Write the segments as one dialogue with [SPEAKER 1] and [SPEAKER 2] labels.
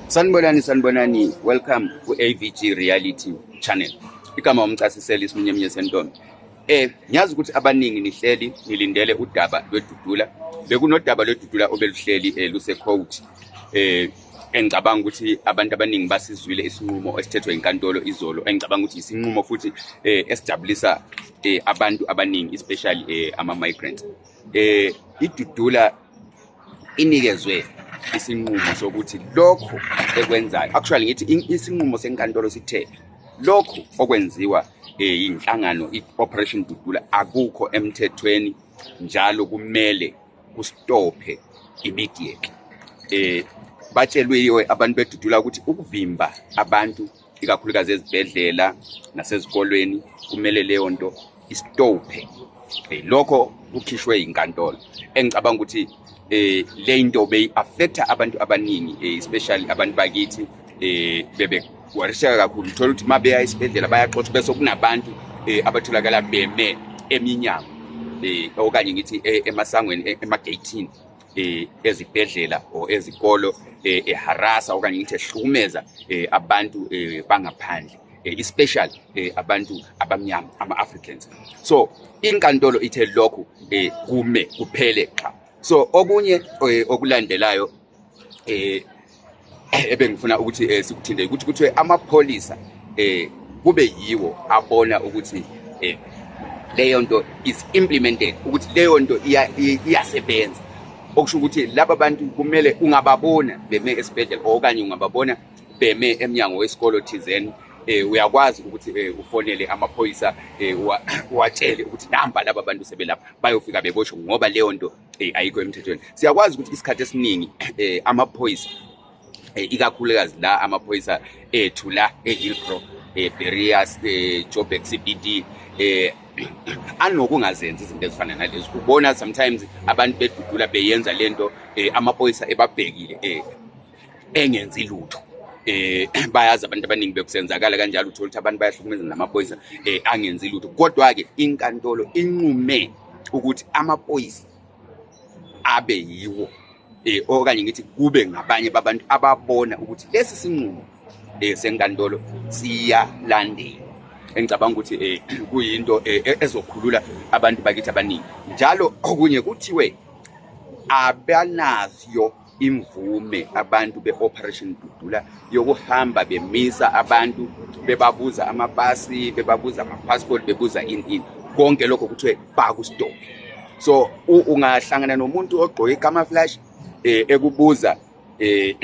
[SPEAKER 1] Sanibonani sanibonani welcome ku AVG Reality Channel. Igama umcasiseli isimunyemunye sentombi. Eh ngiyazi ukuthi abaningi nihleli nilindele udaba lwedudula. Bekunodaba lwedudula obeluhleli eh, luse court. Eh engicabanga ukuthi abantu abaningi basizwile isinqumo esithethwe inkantolo izolo engicabanga ukuthi isinqumo futhi eh esijabulisa eh abantu abaningi especially eh ama migrants. Eh idudula inikezwe isinqumo sokuthi lokho ekwenzayo actually ngithi isinqumo senkantolo sithe lokhu okwenziwa eh, yinhlangano i-operation dudula akukho emthethweni njalo kumele kustophe immediate eh batshelwe abantu bedudula ukuthi ukuvimba abantu ikakhulukazi ezibhedlela nasezikolweni kumele leyo nto isitophe eh, lokho kukhishwe inkantolo engicabanga ukuthi eh le nto beyi-affecta abantu abaningi eh, especially abantu bakithi eh bebe wariseka kakhulu uthola ukuthi uma beya esibhedlela bayaxoxa bese kunabantu eh abatholakala beme eminyango eh okanye ngithi eh, emasangweni eh, emageyithini eh, ezibhedlela or ezikolo eh, eharasa okanye ngithi ehlukumeza eh, abantu eh, bangaphandle eh, especially eh, abantu abamnyama ama-africans so inkantolo ithe lokhu eh, kume kuphele qha so okunye eh, okulandelayo eh, eh, ebengifuna ukuthi eh, sikuthinde ukuthi kuthiwe amapholisa eh kube yiwo abona ukuthi eh leyo nto is implemented ukuthi leyo nto iyasebenza okusho ukuthi laba bantu kumele ungababona beme esibhedlela okanye ungababona beme emnyango wesikolo thizeni eh uyakwazi ukuthi eh, ufonele amaphoyisa eh, watshele ukuthi namba laba bantu sebelapha bayofika beboshwe ngoba leyo nto eh, ayikho emthethweni siyakwazi ukuthi isikhathi esiningi eh, amaphoyisa eh, ikakhulukazi la amaphoyisa ethu la e-hillbro eh, berias eh, joburg cbd eh, anokungazenzi izinto ezifana nalezi ubona sometimes abantu bedudula beyenza lento eh, amaphoyisa ebabhekile eh, engenzi lutho eh bayazi abantu abaningi bekusenzakala kanjalo uthola ukuthi abantu bayahlukumeza namaphoyisa eh angenzi lutho kodwa ke inkantolo inqume ukuthi amaphoyisa abe yiwo eh okanye ngithi kube ngabanye babantu ababona ukuthi lesi sinqumo eh senkantolo siyalandela engicabanga ukuthi eh kuyinto eh, e-, ezokhulula abantu bakithi abaningi njalo okunye kuthiwe abanazyo imvume abantu be-operation dudula yokuhamba bemisa abantu bebabuza amapasi bebabuza amapassport bebuza ini ini konke lokho kuthiwe bakustope so ungahlangana nomuntu ogqoke ikama flash eh, ekubuza eh,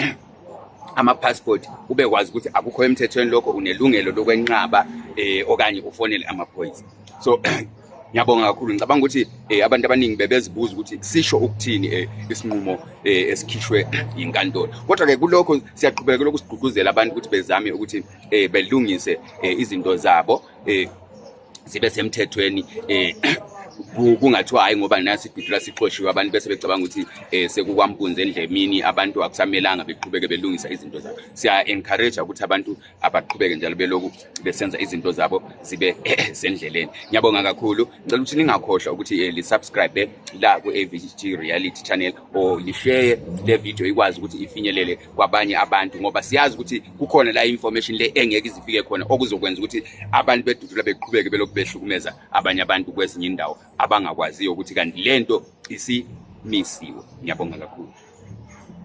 [SPEAKER 1] ama-passport ubekwazi ukuthi akukho emthethweni lokho unelungelo lokwenqaba eh, okanye ufonele amaphoyisa so Ngiyabonga kakhulu ngicabanga ukuthi eh, abantu abaningi bebezibuza ukuthi sisho ukuthini eh, isinqumo eh, esikhishwe yinkantolo kodwa ke kulokho siyaqhubekela ukusigqugquzela abantu ukuthi bezame ukuthi eh, belungise eh, izinto zabo eh, zibe semthethweni eh, kungathiwa hayi ngoba nasi ibhidula sixoshiwe abantu bese becabanga ukuthi um sekukwampunzi endlemini abantu akusamelanga beqhubeke belungisa izinto zabo siya-encourage ukuthi abantu abaqhubeke njalo beloku besenza izinto zabo zibe sendleleni ngiyabonga kakhulu ngicela ukuthi ningakhohlwa ukuthi eh, lisubscribe la ku-avgt reality channel or lisheye le video ikwazi ukuthi ifinyelele kwabanye abantu ngoba siyazi ukuthi kukhona la information le engeke izifike khona okuzokwenza ukuthi abantu bedudula beqhubeke belokhu behlukumeza abanye abantu kwezinye indawo abangakwaziyo ukuthi kanti lento isimisiwe ngiyabonga kakhulu